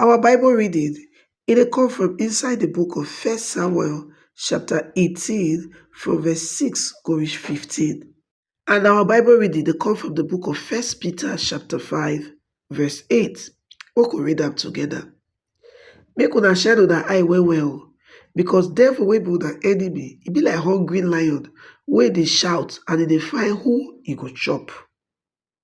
Our Bible reading, e dey come from inside the book of First Samuel chapter 18 from verse 6 go reach 15. And our Bible reading dey come from the book of First Peter chapter 5 verse 8. We go read am together. Make una shine una eye well well o, because devil wey be una enemy, e be like hungry lion wey dey shout and e dey find who e go chop.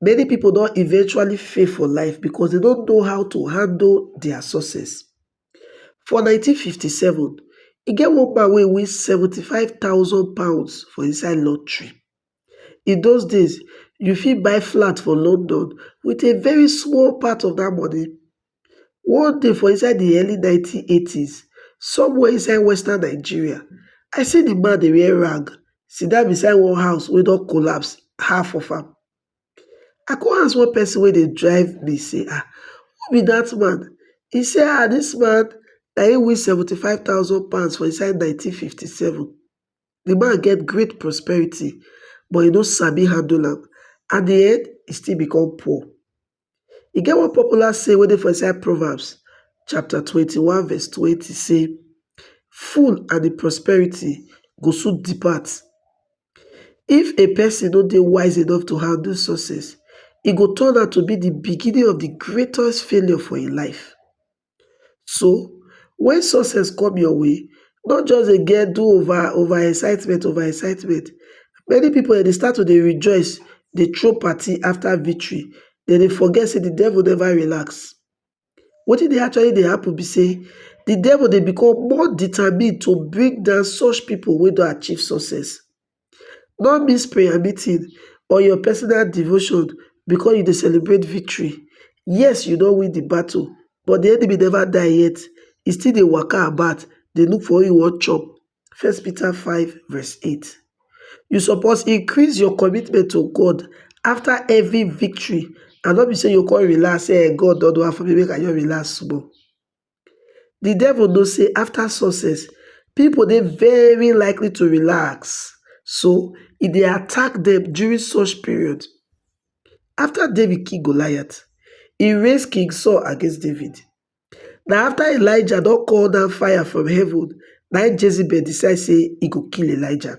Many pipo don eventually fail for life becos dem no know how to handle dia success. For nineteen fifty seven, e get one man wey win seventy five thousand pounds for inside lottery. In those days, you fit buy flat for London wit a very small part of dat money. One day for inside di early nineteen eighties somewhere inside western Nigeria, I see di man dey wear rag sit down beside one house wey don collapse half of am. I come ask one person wey dey drive me sey um who be dat man? E sey um dis man na im win seventy five thousand pounds for inside nineteen fifty seven. Di man get great prosperity but e no sabi handle am, at di end e still become poor. E get one popular saying wey dey for inside Proverbs chapter twenty one verse twenty say, Fool and im prosperity go soon depart. If a person no dey wise enough to handle success, e go turn out to be the beginning of the greatest failure for im life. So when success come your way, no just dey get do over over excitement over excitement. Many pipu um dey start to dey rejoice, dey throw party after victory. Dem dey forget sey de devil never relax. Wetin dey actually dey happen be sey de devil dey become more determined to bring down such pipu wey don achieve success. No miss prayer meeting or your personal devotion because you dey celebrate victory. Yes, you don win the battle, but the enemy never die yet. He still dey waka about, dey look for who he wan chop. First Peter 5 verse 8. You suppose increase your commitment to God after every victory and not be say you come relax say eh, God don do am for me, make I just relax small. Di devil know say afta success, pipo dey very likely to relax, so e dey attack dem during such period. Afta David kill Goliath, e raise King Saul against David. Na afta Elijah don call down fire from heaven na im Jezebel decide say e go kill Elijah.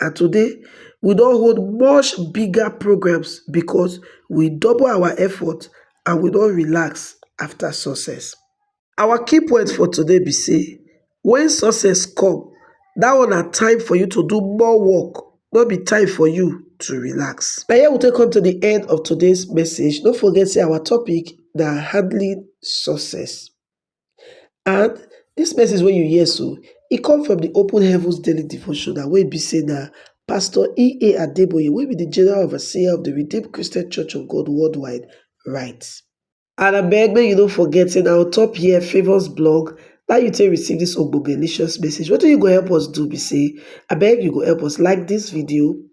and today we don hold much bigger programs becos we double our efforts and we no relax afta success. Our key point for today be say wen success come, dat one na time for you to do more work, no be time for you to relax. Na here we take come to di end of today's message, no forget say our topic na handling success. And dis message wey you hear so, e come from the Open Heavens Daily Devotional wey be say na Pastor E.A. Adeboye wey be the General Overseer of the Redeemed Christian Church of God Worldwide write. And abeg make you no forget say na on top here Favours blog na you take receive this ogbogelicious message. Wetin you go help us do be say abeg you go help us like this video,